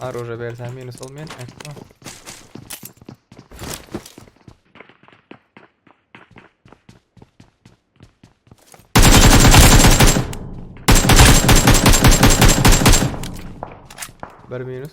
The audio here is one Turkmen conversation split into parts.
Arora bersen minus olmayan ekran. Bir minus.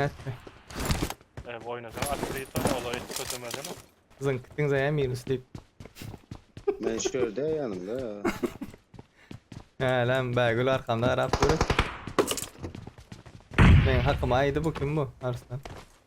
Nätme. Ew oýnasaň Atrit oýna ola hiç kösemezene. Zynk gitdiň zaýa minus diýip. Men şu ýerde ýanyňda. Äläm Bägül arkamda garap dur eken. Meň hakyma aýdy bu kim bu Arslan.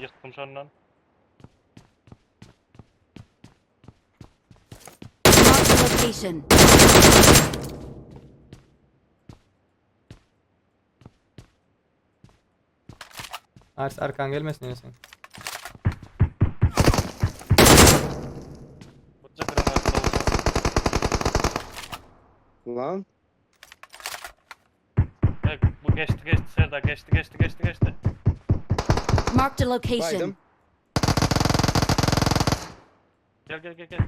Ýykdym şondan. Marked a location. Ars arkan gelmesin ýene sen. Birje granat bolsa. Lan. Bek, bu geçdi geçdi Serdar geçdi geçdi geçdi geçdi. Marked a location. Baydım. Gel gel gel gel.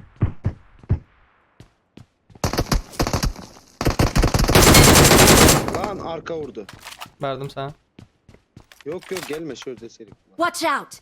Lan arka vurdu. Verdim sana. Yok yok gelme şurada serik. Watch out!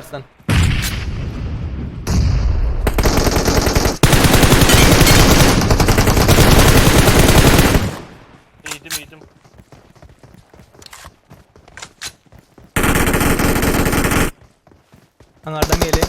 Ýaşaýarsyň, Iýdim, iýdim. Aňardan geliň.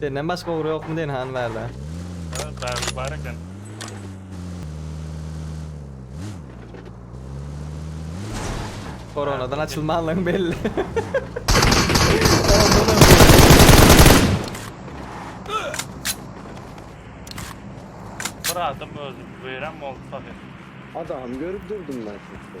Senden başga ogry ýokmy diýen hany bärde. Hä bärde bar eken. Koronadan açylmanlygyň belli. Bir adam özü veren mi oldu tabi. Adam görüp durdum ben sizi.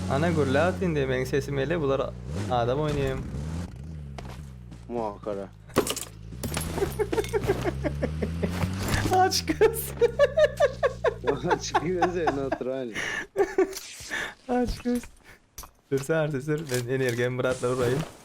Ana gürläp indi meň sesim ele bular adam oýnaýan. Muhakara. Aç göz. Aç göz en natural. Aç göz. Sür sar sür. Ben energiýam bratlar urayım.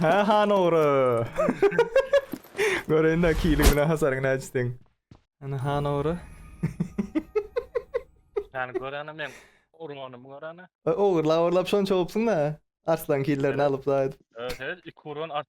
Hä han ogry. Göreýin de kili bilen hasaryň näçe seň. Ana han ogry. Seni görene men urganymy görene. Ogurlap ogurlap şonça gopsuň da. Arslan killerini alyp zaýat. Öte iki urgan art.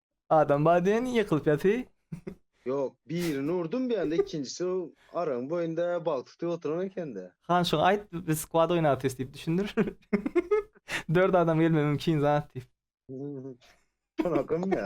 Adam bar diýen ýykylypýasy. Ýok, birini urdum bir ýanda, ikinjisi araň boýunda balyk tutup oturan ekende. Han şoňa aýt, biz skwad oýnapýus diýip düşündir. Dört adam gelme mümkin zat diýip. Şonakam ýa.